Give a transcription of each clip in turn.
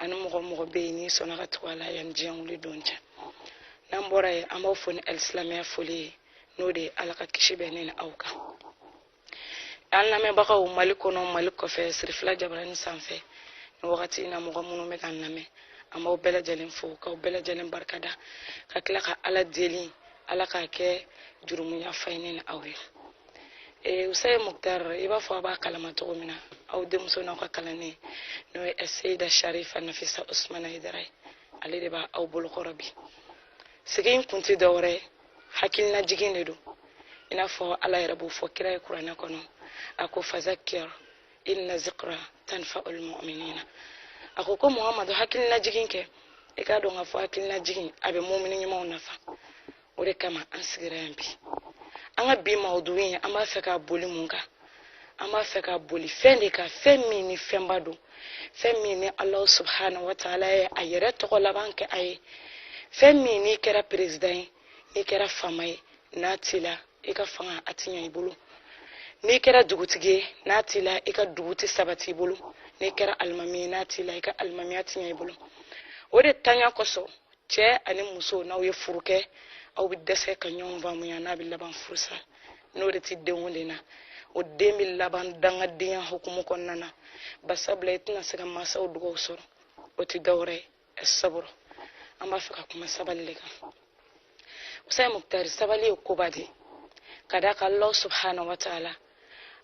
ani mɔgɔ mɔgɔ bɛ yen n'i sɔnna ka tugu a la yanni diɲɛ wuli don cɛ n'an bɔra yen an b'aw fo ni alisilamɛya foli ye n'o de ye ala ka kisi bɛ ne ni aw kan an lamɛnbagaw mali kɔnɔ mali kɔfɛ sirifila jabarani sanfɛ ni wagati in na mɔgɔ minnu bɛ k'an lamɛn an b'aw bɛɛ lajɛlen fo k'aw bɛɛ lajɛlen barikada ka tila ka ala deli ala k'a kɛ jurumuyafa ye ne ni aw ye eh, usaye muktar i b'a fɔ a b'a kalama cogo min na aw denmuso n'aw ka kalanden n'o ye seida sharifa nafisa usmana haidara ye ale de b'a aw bolokɔrɔ bi sigi in kun tɛ dɔwɛrɛ ye hakilina jigin de don i n'a fɔ ala yɛrɛ b'o fɔ kira ye kuranɛ kɔnɔ a ko fazakir inna zikra tanfaul muminina a ko ko muhamadu hakilina jigin kɛ i k'a dɔn k'a fɔ hakilina jigin a bɛ mumini ɲumanw nafa o de kama an sigira yan bi an ka bi mawudu in an b'a fɛ ka boli mun kan an b'a fɛ ka boli fɛn de kan fɛn min ni fɛnba don fɛn min ni alahu subhanahu wa taala ye a yɛrɛ tɔgɔ laban kɛ a ye fɛn min n'i kɛra perezidan ye n'i kɛra faama ye n'a t'i la i ka fanga a ti ɲɛ i bolo n'i kɛra dugutigi ye n'a t'i la i ka dugu tɛ sabati i bolo n'i kɛra alimami ye n'a t'i la i ka alimamiya ti ɲɛ i bolo o de ntanya kosɔn cɛ ani muso n'aw ye furu kɛ aw bɛ dɛsɛ ka ɲɔgɔn faamuya n'a bɛ laban furusa n'o de tɛ denw de na o den bɛ laban dangadenya hukumu kɔnɔna na basabula i tɛna se ka mansaw dugaw sɔrɔ o tɛ dɔwɛrɛ ye saburu an b'a fɛ ka kuma sabali de kan usayi mukutari sabali ye koba de ka d'a kan allah subhanahu wa taala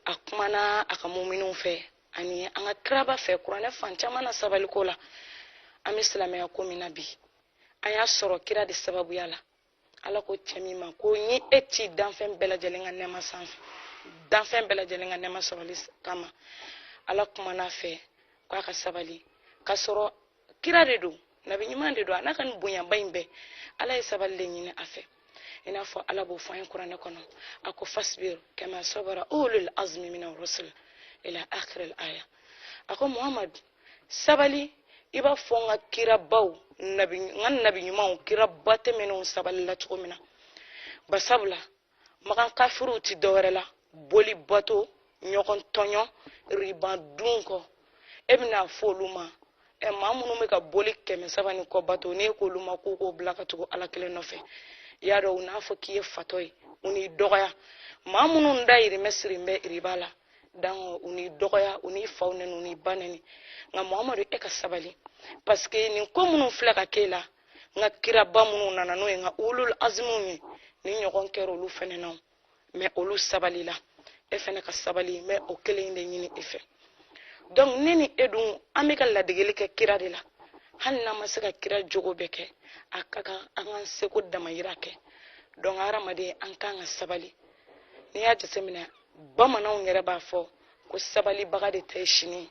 a kumana a ka muminiw fɛ ani an ka kiraba fɛ kuranɛ fan caman na sabaliko la an bɛ silamɛya ko min na bi an y'a sɔrɔ kira de sababuya la ala ko cɛ min ma ko n y'e ci danfɛn bɛɛ lajɛlen ka nɛɛma sanfɛ danfɛn bɛɛ lajɛlen ka nɛɛma sɔrɔli kama ala kumana a fɛ k'a ka sabali k'a sɔrɔ kira de don nabi ɲuman de don a n'a ka nin bonyaba in bɛɛ ala ye sabali de ɲini a fɛ i n'a fɔ ala b'o fɔ an ye kuranɛ kɔnɔ a ko fasbir kama sabara ulul azmi mina rusul ila akhir al aya a ko muhammad sabali i b'a fɔ n ka kirabaw nabi n ka nabi ɲumanw kiraba tɛmɛnenw sabalila cogo min na basabula makan kafiriw ti dɔwɛrɛ la boli bato ɲɔgɔn tɔɲɔ riba dun kɔ e bɛn'a fɔ olu ma ɛ maa minnu bɛ ka boli kɛmɛ saba ni kɔ bato n'e k'olu ma k'u k'o bila ka tugu ala kelen nɔfɛ i y'a dɔn u n'a fɔ k'i ye fatɔ ye u n'i dɔgɔya maa minnu dayirimɛ sirin bɛ riba la dangɔ u n'i dɔgɔya u n'i faw nɛni u n'i ba nɛni nka muhamadu e ka sabali paseke nin ko minnu filɛ ka k'e la n ka kiraba minnu nana n'o ye n ka ulul azimuw ye nin ɲɔgɔn kɛra olu fɛnɛ na mais olu sabalila e fɛnɛ ka sabali n bɛ o kelen in de ɲini e fɛ donc ne ni e dun an bɛ ka ladegeli kɛ kira de la hali n'an ma se ka kira jogo bɛɛ kɛ a ka kan an k'an seko damayira kɛ donc hadamaden an kan ka sabali n'i y'a jateminɛ bamananw yɛrɛ b'a fɔ ko sabalibaga de ta ye sini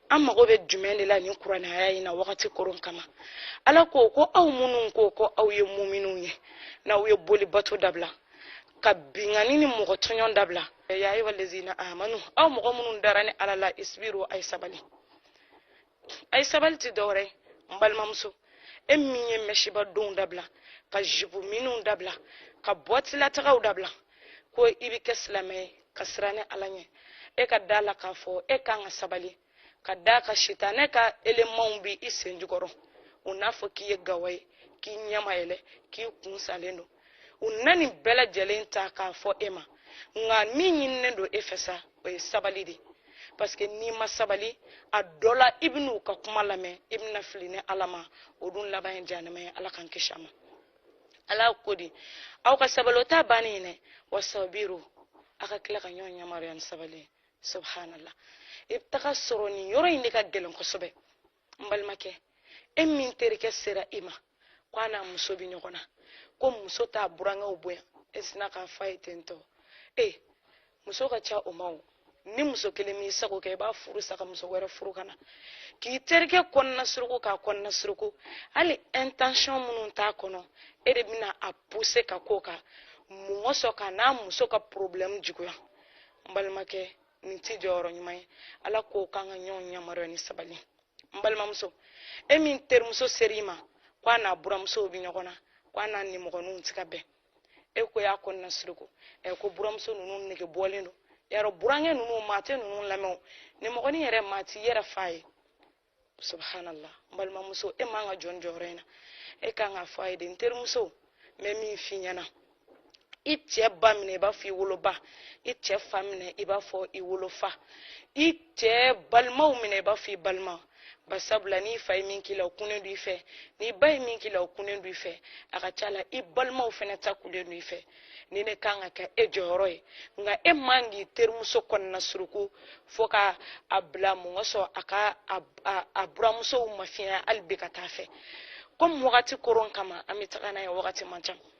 an mago bɛ jumɛn de la nin kuranɛ aya in na wagati koron kama ala ko ko aw minnu ko ko aw ye muminw ye n'aw ye boli bato dabila ka binkanni ni mɔgɔ tɔɲɔn dabila ya ayyuha allazina amanu aw mɔgɔ minnu dara ne ala la isbiru a ye sabali a ye sabali tɛ dɔwɛrɛ n balimamuso e min ye mɛsiba donw dabila ka jipu miniw dabila ka boîte la taagaw dabila ko i bɛ kɛ silamɛ ye ka siran ne ala ɲɛ e ka da la k'a fɔ e kan ka sabali ka d'a kan sitanɛ ka elemanw bi i sen jukɔrɔ u n'a fɔ k'i ye gawa ye k'i ɲɛ ma yɛlɛ k'i kun salen don u na nin bɛɛ lajɛlen ta k'a fɔ e ma nka min ɲininen don e fɛ sa o ye sabali de parce que n'i ma sabali a dɔ la i bɛna u ka kuma lamɛn i bɛna fili ne ala ma o dun laban ye jahanama ye ala k'an kisi a ma ala ko di aw ka sabali o t'a bannen ye dɛ wasabiru a ka tila ka ɲɔgɔn yamaruya ni sabali ye subhanallah i bɛ taga sɔrɔ nin yɔrɔ in de ka gɛlɛn kosɛbɛ n balimakɛ e min terikɛ sera i ma ko a n'a muso bɛ ɲɔgɔn na ko muso t'a burankɛw bonya e sinna k'a fɔ a ye ten tɔ ee muso ka ca o ma o ni muso kelen m'i sago kɛ i b'a furu sa ka muso wɛrɛ furu ka na k'i terikɛ kɔnɔna suruku k'a kɔnɔna suruku hali intention minnu t'a kɔnɔ e de bɛna a pousser ka k'o kan mun kosɔn ka n'a muso ka problème juguya n balimakɛ nin t'i jɔyɔrɔ ɲuman ye ala ko k'an ka ɲɔgɔn yamaruya ni sabali n balimamuso e min terimuso sera i ma ko a n'a buramusow bɛ ɲɔgɔn na ko a n'a nimɔgɔninw tɛ ka bɛn e ko y'a kɔnɔna suruku ɛ ko buramuso ninnu nege bɔlen don yɛrɛ burankɛ ninnu maa tɛ ninnu lamɛn nimɔgɔnin yɛrɛ maa t'i yɛrɛ fa ye subhanallah n balimamuso e man ka jɔ nin jɔyɔrɔ in na e kan ka fɔ a ye de n terimuso n bɛ min f'i ɲɛna i cɛ ba minɛ i b'a fɔ i woloba i cɛ fa minɛ i b'a fɔ i wolofa i cɛ balimaw minɛ i b'a fɔ i balima ba sabula n'i fa ye min k'i la o kunnen don i fɛ n'i ba ye min k'i la o kunnen don i fɛ a ka ca la i balimaw fɛnɛ ta kunnen don i fɛ nin de kan ka kɛ e jɔyɔrɔ ye nka e man k'i terimuso kɔnɔna suruku fo ka a bila mun kosɔn a ka a buramusow mafiɲɛ hali bi ka taa fɛ komi wagati koron kama an bɛ taga n'a ye wagati man ca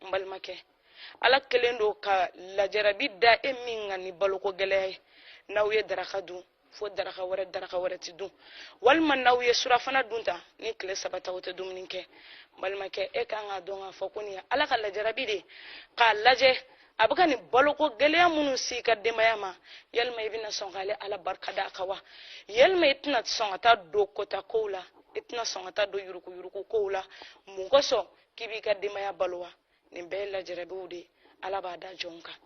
n balimakɛ ala kɛlen don ka lajarabi da e min kan ni baloko gɛlɛya ye n'aw ye daraka dun fo daraka wɛrɛ daraka wɛrɛ tɛ dun walima n'aw ye surafana dun ta ni tile saba ta o tɛ dumuni kɛ n balimakɛ e kan k'a dɔn k'a fɔ ko nin ye ala ka lajarabi de ye k'a lajɛ a bɛ ka nin baloko gɛlɛya minnu s'i ka denbaya ma yalima i bɛna sɔn k'ale ala barika da a kan wa yalima i tɛna sɔn ka taa don kota kow la i tɛna sɔn ka taa don yurukuyuruku kow la mun kosɔn k'i b'i ka denbaya balo wa nin bɛɛ ye lajarabiw de ye ala b'a da jɔn kan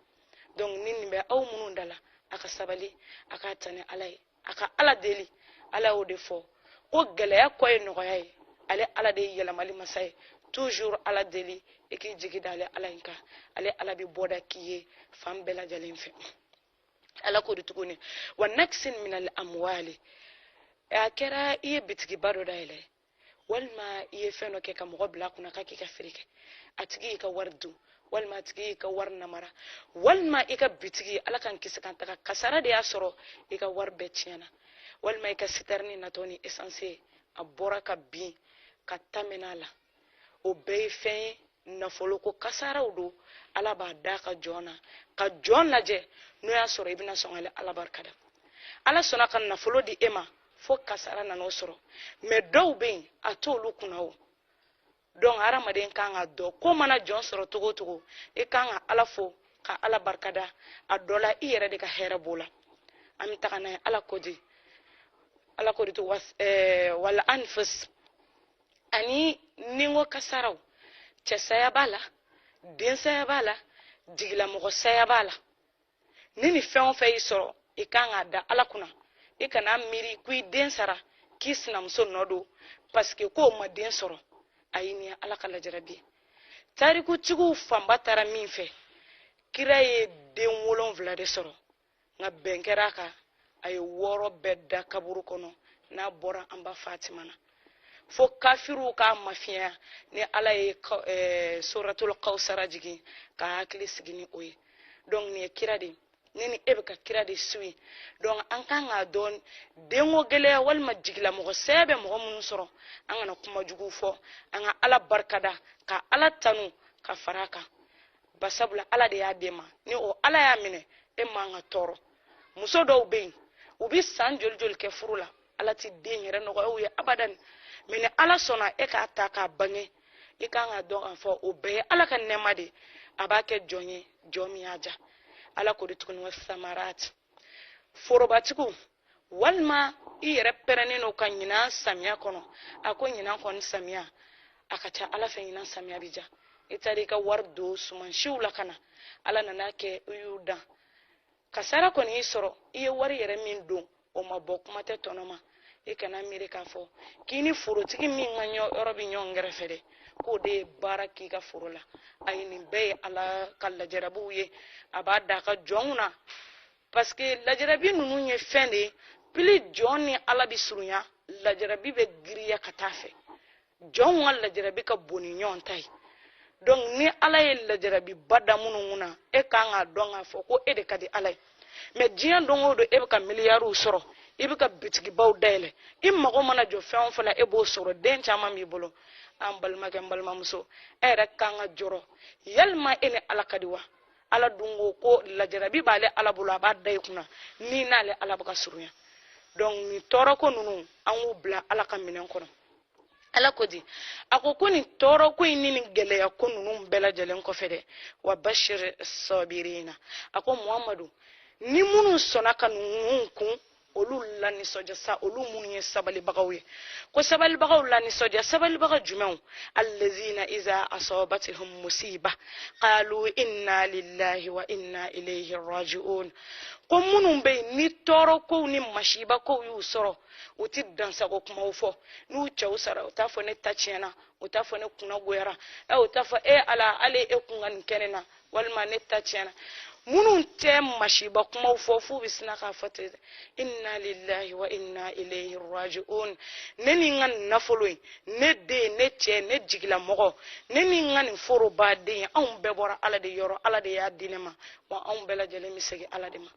donc ni nin bɛ aw minnu da la a ka sabali a k'a ta ni ala ye a ka ala deli ala y'o de fɔ ko gɛlɛya kɔ ye nɔgɔya ye ale ala de ye yɛlɛmali masa ye toujours ala deli i k'i jigi da ale ala in kan ale ala bɛ bɔda k'i ye fan bɛɛ lajɛlen fɛ ala ko de tuguni wa naksin minal amwali a kɛra i ye bitigiba dɔ dayɛlɛ walima i ye fɛn dɔ kɛ ka mɔgɔ bila a kunna k'a k'i ka feere kɛ a tigi y'i ka wari dun walima a tigi y'i ka wari namara walima i ka bitigi ala k'an kisi k'an tanga kasara de y'a sɔrɔ i ka wari bɛɛ tiɲɛna walima i ka sitɛrini natɔ ni essence a bɔra ka bin ka ta mɛn'a la o bɛɛ ye fɛn ye nafolo ko kasaraw don ala b'a da a ka jɔn na ka jɔn lajɛ n'o y'a sɔrɔ i bɛna sɔn ka ala barika da ala sɔnna ka nafolo di e ma fo kasara nan'o sɔrɔ mais dɔw bɛ yen a t'olu kunna o donc hadamaden kan k'a dɔn ko mana jɔn sɔrɔ cogo o cogo i kan ka ala fo ka ala barika da a dɔ la i yɛrɛ de ka hɛrɛ b'o la an bɛ taga n'a ye ala ko de ala ko de to was eh, wal anfus ani ninko kasaraw cɛ saya b'a la den saya b'a la jigilamɔgɔ saya b'a la ni nin fɛn o fɛn y'i sɔrɔ i kan k'a da ala kunna i kana miiri ko i den sara k'i sinamuso nɔ don parce que ko o ma den sɔrɔ ayi nin ye ala ka lajarabi ye tarikutigiw fanba taara min fɛ kira ye den wolonwula de sɔrɔ nka bɛn kɛra a kan a ye wɔɔrɔ bɛɛ da kaburu kɔnɔ n'a bɔra an ba fatima na fo kafiriw k'a mafiɲɛya ni ala ye eh, suratul kawsara jigin k'a hakili sigi ni o ye donc nin ye kira de ne ni e bɛ ka kira de suivi donc an kan k'a dɔn denko gɛlɛya walima jigilamɔgɔ saya bɛ mɔgɔ minnu sɔrɔ an kana kuma juguw fɔ an ka ala barika da ka ala tanu ka fara a kan ba sabu la ala de y'a d'e ma ni o ala y'a minɛ e man ka tɔɔrɔ muso dɔw bɛ yen u bɛ san joli joli kɛ furu la ala tɛ den yɛrɛ nɔgɔya u ye abadan mais ni ala sɔnna e k'a ta k'a bange i kan k'a dɔn k'a fɔ o bɛɛ ye ala ka nɛɛma de ye a b'a kɛ jɔn ye jɔn min y'a diya ala ko de tuguni wa samarati forobatigiw walima i yɛrɛ pɛrɛnnen don ka ɲinan samiya kɔnɔ a ko ɲinan kɔni samiya a ka ca ala fɛ ɲinan samiya bi diya i taara i ka wari don sumansiw la ka na ala nana kɛ i y'u dan kasara kɔni y'i sɔrɔ i ye wari yɛrɛ min don o ma bɔ kuma tɛ tɔnɔ ma i kana miiri k'a fɔ k'i ni forotigi min ka yɔrɔ bɛ ɲɔgɔn kɛrɛfɛ dɛ k'o de ye baara k'i ka foro la ayi nin bɛɛ ye ala ka lajarabuw ye a b'a da a ka jɔnw na parce que lajarabi ninnu ye fɛn de ye plus jɔn ni ala bɛ surunya lajarabi bɛ giriya ka taa fɛ jɔnw ka lajarabi ka bon ni ɲɔgɔn ta ye donc ni ala ye lajarabiba da minnu na e kan k'a dɔn k'a fɔ ko e de ka di ala ye mais diɲɛ don o don e bɛ ka miliyariw sɔrɔ i bɛ ka bitigibaw dayɛlɛ i mago mana jɔ fɛn o fɛn na e b'o sɔrɔ den caman b'i bolo an balimakɛ n balimamuso e yɛrɛ kan ka jɔrɔ yalima e ni ala ka di wa ala dun ko ko lajarabi b'ale ala bolo a b'a da i kunna n'i n'ale ala bɛ ka surunya donc nin tɔɔrɔko ninnu an k'u bila ala ka minɛn kɔnɔ ala ko di a ko ko nin tɔɔrɔko in ni nin gɛlɛyako ninnu bɛɛ lajɛlen kɔfɛ dɛ wa bashir sabirina a ko muhamadu ni minnu sɔnna ka ninnu kun olu lanisɔndiya sa olu minnu ye sabalibagaw ye ko sabalibagaw lanisɔndiya sabalibaga jumɛnw allazina iza asabatihum musiba qalu inna lillahi wa inna ilayhi raji'un ko minnu bɛ yen ni tɔɔrɔkow ni masibakow y'u sɔrɔ u ti dansago kumaw fɔ n'u cɛw sara u t'a fɔ ne ta tiɲɛna u t'a fɔ ne kunna goyara ɛ u t'a fɔ e ala ale e kun ka nin kɛ ne na walima ne ta tiɲɛna minnu tɛ masiba kumaw fɔ f'u bɛ sina k'a fɔ ten inna lillahi wa inna ilayhi raji'un ne ni n ka nin nafolo in ne den ne cɛ ne jigilamɔgɔ ne ni n ka nin foroba de anw bɛɛ bɔra ala de yɔrɔ ala de y'a di ne ma wa anw bɛɛ lajɛlen bɛ segin ala de ma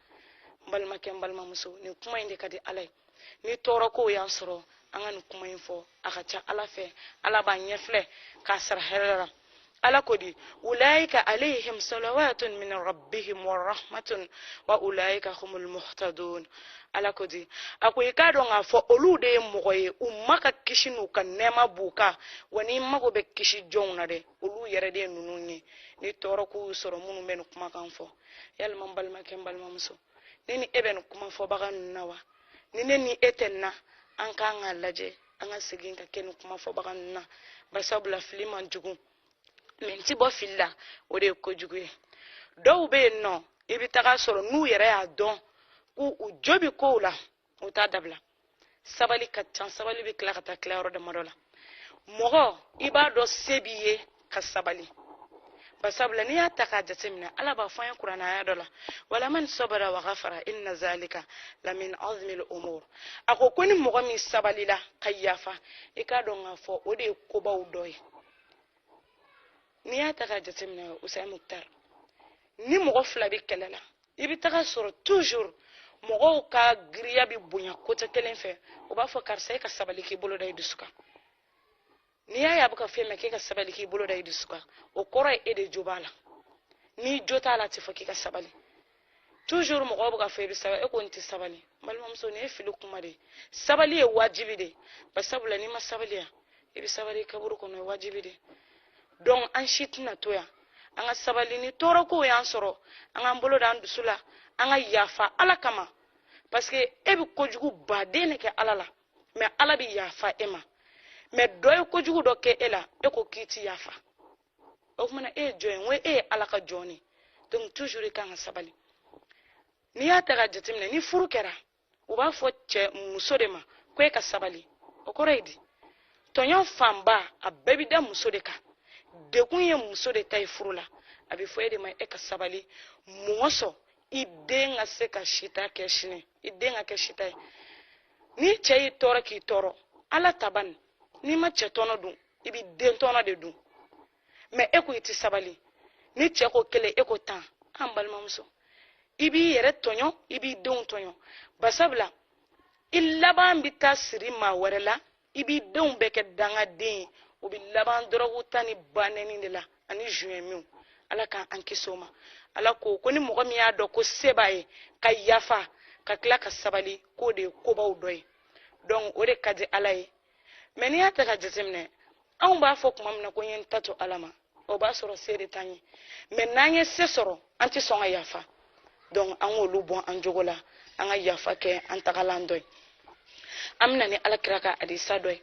n balimakɛ n balimamuso nin kuma in de ka di ala ye ni tɔɔrɔkow y'an sɔrɔ an ka nin kuma in fɔ a ka ca ala fɛ ala b'a ɲɛfilɛ k'a sara hɛrɛ la ala ko di ulaika alayhim salawatun min rabbihim wa rahmatun wa ulaika humul muhtadun ala ko di a ko i k'a dɔn k'a fɔ olu de ye mɔgɔ ye u ma ka kisi n'u ka nɛɛma b'u kan wa n'i mago bɛ kisi jɔnw na dɛ olu yɛrɛ de ye ninnu ye ni tɔɔrɔko y'u sɔrɔ minnu bɛ nin kumakan fɔ yalima n balimakɛ n balimamuso ne ni e bɛ nin kuma fɔbaga ninnu na wa ni ne ni e tɛ nin na an kan k'a lajɛ an ka segin ka kɛ nin kuma fɔbaga ninnu na barisabula fili man jugu mais n ti bɔ fili la o de ye kojugu ye dɔw bɛ yen nɔ i bɛ taga sɔrɔ n'u yɛrɛ y'a dɔn k'u u jo bɛ kow la u t'a dabila sabali ka can sabali bɛ tila ka taa tila yɔrɔ damadɔ la mɔgɔ i b'a dɔn se b'i ye ka sabali basabula n'i y'a ta k'a jateminɛ ala b'a fɔ an ye kuranɛ aya dɔ la walaman sabara wa gafara inna zalika lamin azmil umur a ko ko ni mɔgɔ min sabalila ka yafa i k'a dɔn k'a fɔ o de ye kobaw dɔ ye n'i y'a ta k'a jateminɛ usayi mukutar ni mɔgɔ fila bɛ kɛlɛ la i bɛ taga sɔrɔ toujours mɔgɔw ka giriya bɛ bonya côté kelen fɛ u b'a fɔ karisa e ka sabali k'i bolo da i dusu kan n'i y'a ye a bɛ ka fɔ e ma k'e ka sabali k'i bolo da i dusu kan o kɔrɔ ye e de jo b'a la n'i jo t'a la a tɛ fɔ k'i ka sabali toujours mɔgɔw bɛ ka fɔ i bɛ sabali e ko n tɛ sabali balimamuso nin ye fili kuma de ye sabali ye wajibi de ye basabula n'i ma sabali yan i bɛ sabali kaburu kɔnɔ o ye wajibi de ye donc an si tɛna to yan an ka sabali ni tɔɔrɔkow y'an sɔrɔ an k'an bolo da an dusu la an ka yafa ala kama parce que e bɛ kojugu baden de kɛ ala la mais ala bɛ yafa e ma mais dɔ ye kojugu dɔ kɛ e la e ko k'i ti yafa o tuma na e ye jɔn ye n ko e ye ala ka jɔn de donc toujours i kan ka sabali n'i y'a ta ka jateminɛ ni furu kɛra u b'a fɔ cɛ muso de ma ko e ka sabali o kɔrɔ ye di tɔɲɔ fanba a bɛɛ bi da muso de kan degun ye muso de ta ye furu la a bɛ fɔ e de ma e ka sabali mun kosɔn i den ka se ka sita kɛ sini i den ka kɛ sita ye ni cɛ y'i tɔɔrɔ k'i tɔɔrɔ ala taban n'i ma cɛ tɔnɔ dun i bɛ den tɔnɔ de dun mais e ko i tɛ sabali ni cɛ ko kelen e ko tan an balimamuso i b'i yɛrɛ tɔɲɔ i b'i denw tɔɲɔ basabula i laban bɛ taa siri maa wɛrɛ la i b'i denw bɛɛ kɛ dangaden ye o bɛ laban dɔrɔgu ta ni banɛni de la ani zuɲɛmiw ala k'an an kisi o ma ala ko ko ni mɔgɔ min y'a dɔn ko se b'a ye ka yafa ka tila ka sabali k'o de ye kobaw dɔ ye donc o de ka di ala ye mais n'i y'a ta ka jateminɛ anw b'a fɔ kuma min na ko n ye n ta to ala ma o b'a sɔrɔ se de t'an ye mais n'an ye se sɔrɔ an tɛ sɔn ka yafa donc an k'olu bɔ an jogo la an ka yafa kɛ an tagalan dɔ ye an bɛ na ni ala kira ka hadisa dɔ ye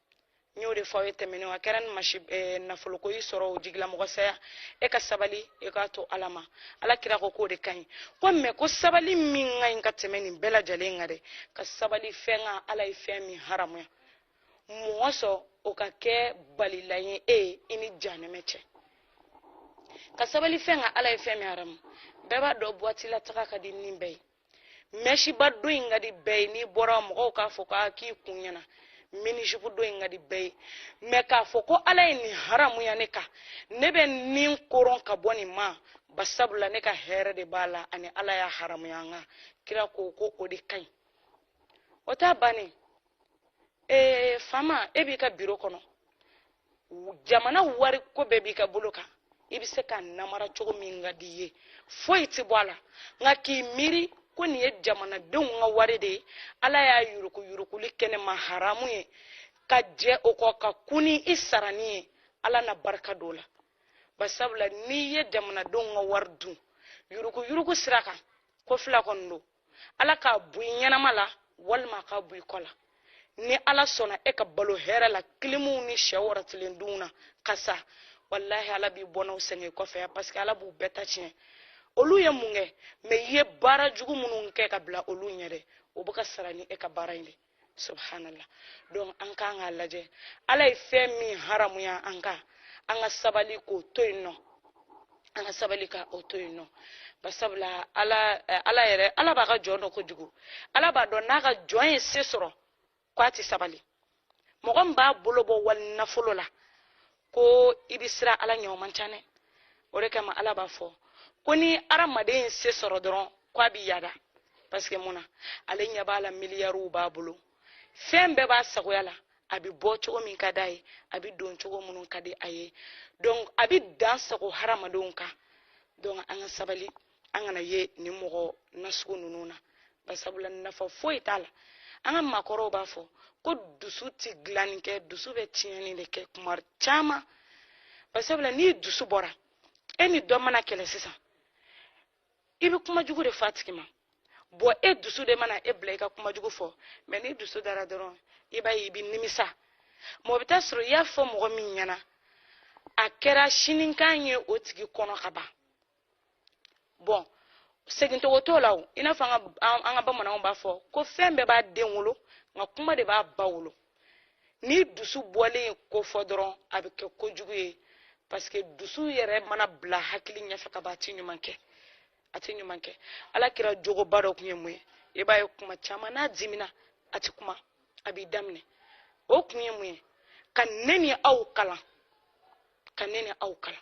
n y'o de fɔ aw ye tɛmɛnenw a kɛra ni masi eh, nafoloko y'i sɔrɔ o jigilamɔgɔ saya e ka sabali e k'a to ala ma ala kira ko k'o de ka ɲi ko mais ko sabali min ka ɲi ka tɛmɛ nin bɛɛ lajɛlen kan dɛ ka sabali fɛn kan ala ye fɛn min haramuya mun kosɔn o ka kɛ balilan ye i ni janɛmɛ cɛ ka sabali fɛn kan ala ye fɛn min haramu bɛɛ b'a dɔn boîte la taga ka di ni bɛɛ ye mɛsiba don in ka di bɛɛ ye n'i bɔra mɔgɔw k'a fɔ k'a k'i kun ɲɛna minizipu don in ka di bɛɛ ye mɛ k'a fɔ ko ala ye nin haramuya ne kan ne bɛ nin koron ka bɔ nin ma basabula ne ka hɛrɛ de b'a la ani ala y'a haramuya an kan kira ko ko o de ka ɲi o t'a bannen ye faama e b'i ka biro kɔnɔ jamana wari ko bɛɛ b'i ka bolo kan i bɛ se k'a namara cogo min ka di i ye foyi tɛ bɔ a la nka k'i miiri ko nin ye jamanadenw ka wari de ye ala y'a yurukuyurukuli kɛ ne ma haramu ye ka jɛ o kɔ ka kun ni i sarani ye ala na barika don la basabula n'i ye jamanadenw ka wari dun yurukuyuruku sira kan ko fila kɔni don ala k'a bɔ i ɲɛnama la walima a k'a bɔ i kɔ la ni ala sɔnna e ka balo hɛrɛ la kilimuw ni sɛ wɔrɔtilen dun na ka sa walahi ala b'i bɔnnaw sɛgɛn i kɔfɛ yan paseke ala b'u bɛɛ ta tiɲɛ olu ye mun kɛ mɛ i ye baara jugu minnu kɛ ka bila olu ɲɛ dɛ o bɛ ka sara ni e ka baara in de ye subhanallah donc an kan k'a lajɛ ala ye fɛn min haramuya an kan an ka sabali k'o to yen nɔ an ka sabali ka o to yen nɔ basabula ala eh, ala yɛrɛ ala b'a ka jɔn dɔn kojugu ala b'a dɔn n'a ka jɔn ye se sɔrɔ ko a tɛ sabali mɔgɔ min b'a bolo bɔ wali nafolo la ko i bɛ siran ala ɲɛ o man ca dɛ o de kama ala b'a fɔ ko ni hadamaden ye se sɔrɔ dɔrɔn ko a b'i yada paseke mun na ale ɲɛ b'a la miliyariw b'a bolo fɛn bɛɛ b'a sagoya la a bɛ bɔ cogo min ka d'a ye a bɛ don cogo minnu ka di a ye donc a bɛ dansago hadamadenw kan donc an ka sabali an kana ye nin mɔgɔ nasugu ninnu na basabula nafa foyi t'a la an ka maakɔrɔw b'a fɔ ko dusu ti dilanni kɛ dusu bɛ tiɲɛni de kɛ kuma caman basabula n'i dusu bɔra e ni dɔ mana kɛlɛ sisan i bɛ kuma jugu de fɔ a tigi ma bɔn e dusu de mana e bila i ka kuma jugu fɔ mɛ n'i dusu dara dɔrɔn i b'a ye i bɛ nimisa mɔgɔ bɛ t'a sɔrɔ i y'a fɔ mɔgɔ min ɲɛna a kɛra sinikan ye o tigi kɔnɔ ka ban bɔn segin tugun t'o la o i n'a fɔ an ka bamananw b'a fɔ ko fɛn bɛɛ b'a den wolo nka kuma de b'a ba wolo ni dusu bɔlen ye ko fɔ dɔrɔn a bɛ kɛ ko jugu ye parce que dusu yɛrɛ mana bila hakili ɲɛfɛ ka ban a ti ɲuman kɛ a ti ɲuman kɛ ala kira jogoba dɔ tun ye mun ye i b'a ye kuma caman n'a dimina a ti kuma a b'i da minɛ o kun ye mun ye ka ne ni aw kalan ka ne ni aw kalan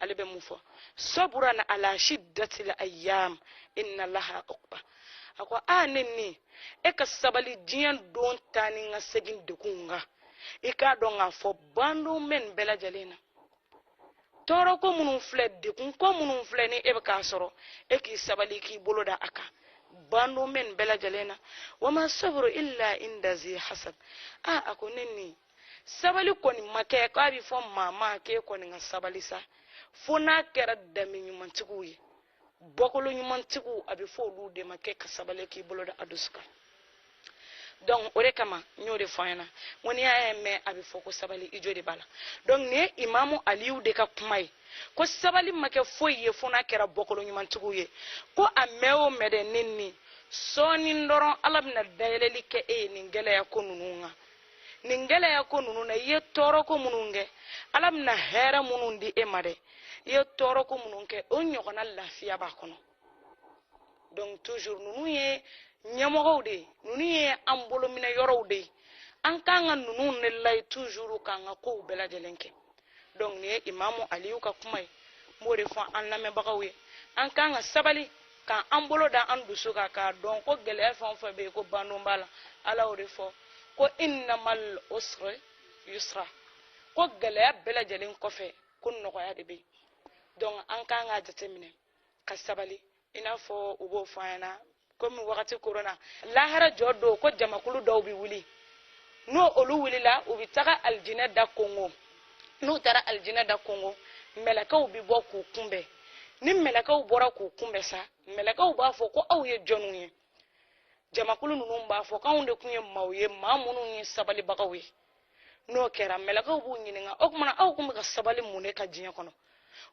ale bɛ mun fɔ sabran ala shiddatil ayyam inna laha uqba a ko a ne ni e ka sabali diɲɛ don taa ni ka segin degun kan i k'a dɔn k'a fɔ bandon bɛ nin bɛɛ lajɛlen na tɔɔrɔ ko minnu filɛ degun ko minnu filɛ ni e bɛ k'a sɔrɔ e k'i sabali k'i bolo da a kan bandon bɛ nin bɛɛ lajɛlen na wa ma sabru illa inda zi hasab a a ko ne ni sabali kɔni ma kɛ k'a bɛ fɔ maa ma k'e kɔni ka sabali sa fo n'a kɛra danbe ɲumantigiw ye bɔkolo ɲumantigiw a bɛ fɔ olu de ma k'e ka sabali k'i bolo da a dusu kan donc o de kama n y'o de fɔ an ɲɛna ko n'i y'a mɛn a bɛ fɔ ko sabali i jo de b'a la donc nin ye imamu aliyu de ka kuma ye ko sabali ma kɛ foyi ye fo n'a kɛra bɔkolo ɲumantigiw ye ko a mɛn o mɛn dɛ ne ni sɔɔni dɔrɔn ala bɛna dayɛlɛli kɛ e ye nin gɛlɛya ko ninnu kan nin gɛlɛya ko ninnu na i ye tɔɔrɔ ko minnu kɛ ala bɛna hɛrɛ minnu di e ma dɛ i ye tɔɔrɔ ko minnu kɛ o ɲɔgɔnna lafiya b'a kɔnɔ donc toujours ninnu ye ɲɛmɔgɔw de ye ninnu ye an bolominɛ yɔrɔw de ye an kan ka ninnu de lajɛ toujours k'an ka kow bɛɛ lajɛlen kɛ donc nin ye imamu aliyu ka kuma ye n b'o de fɔ an lamɛnbagaw ye an kan ka sabali ka an bolo da an dusu kan k'a dɔn ko gɛlɛya fɛn o fɛn bɛ yen ko bandon b'a la ala y'o de fɔ ko innamal usri yusra ko gɛlɛya bɛɛ lajɛlen kɔfɛ ko nɔgɔya de bɛ yen donc an kan k'a jateminɛ ka sabali i n'a fɔ u b'o fɔ an ɲɛna komi wagati korona lahara jɔ don ko jamakulu dɔw bɛ wuli n'olu wulila u bɛ taga alijinɛ da konkon n'u taara alijinɛ da konkon mɛlɛkɛw bɛ bɔ k'u kunbɛn ni mɛlɛkɛw bɔra k'u kunbɛn sa mɛlɛkɛw b'a fɔ ko aw ye jɔnw ye jamakulu ninnu b'a fɔ k'anw de tun ye maaw ye maa minnu ye sabalibagaw ye n'o kɛra mɛlɛkɛw b'u ɲininka o tuma na aw tun bɛ ka sabali mun de kan diɲɛ kɔnɔ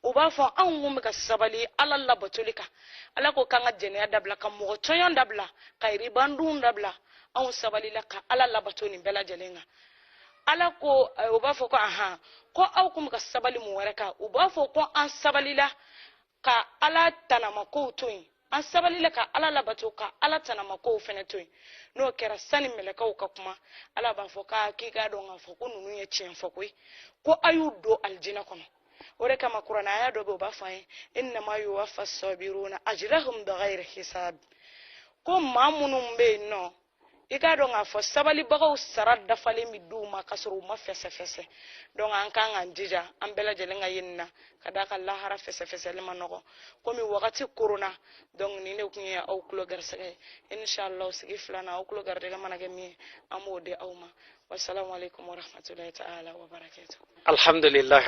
u b'a fɔ anw tun bɛ ka sabali ala labatoli kan ala ko k'an ka jɛnɛya dabila ka mɔgɔ tɔɲɔn dabila ka ribadun dabila anw sabalila ka ala labato nin bɛɛ lajɛlen kan ala ko eh, u b'a fɔ ko ahan ko aw tun bɛ ka sabali mun wɛrɛ kan u b'a fɔ ko an sabalila ka ala tanamakow to yen an sabalila ka ala labato ka ala tanamakow fɛnɛ to yen n'o kɛra sani mɛlɛkɛw ka kuma ala b'a fɔ k'a k'i k'a dɔn k'a fɔ ko ninnu ye tiɲɛ fɔ koyi ko a y'u don alijina kɔnɔ o de kama kuranɛ aya dɔ bɛ yen o b'a fɔ an ye innama yuwafa sabiruna ajrahum bigayri hisab ko maa minnu bɛ yen nɔ i k'a dɔn k'a fɔ sabalibagaw sara dafalen bɛ di u ma k'a sɔrɔ u ma fɛsɛfɛsɛ donc an kan k'an jija an bɛɛ lajɛlen ka ye nin na ka d'a kan lahara fɛsɛfɛsɛli man nɔgɔ komi wagati korona donc nin de tun ye aw tulo garisɛgɛ ye inshallah sigi filanan aw tulo garijɛgɛ mana kɛ min ye an b'o di aw ma wasalamu aleykum warahmatulahi taala wabarakatu alhamdulilahi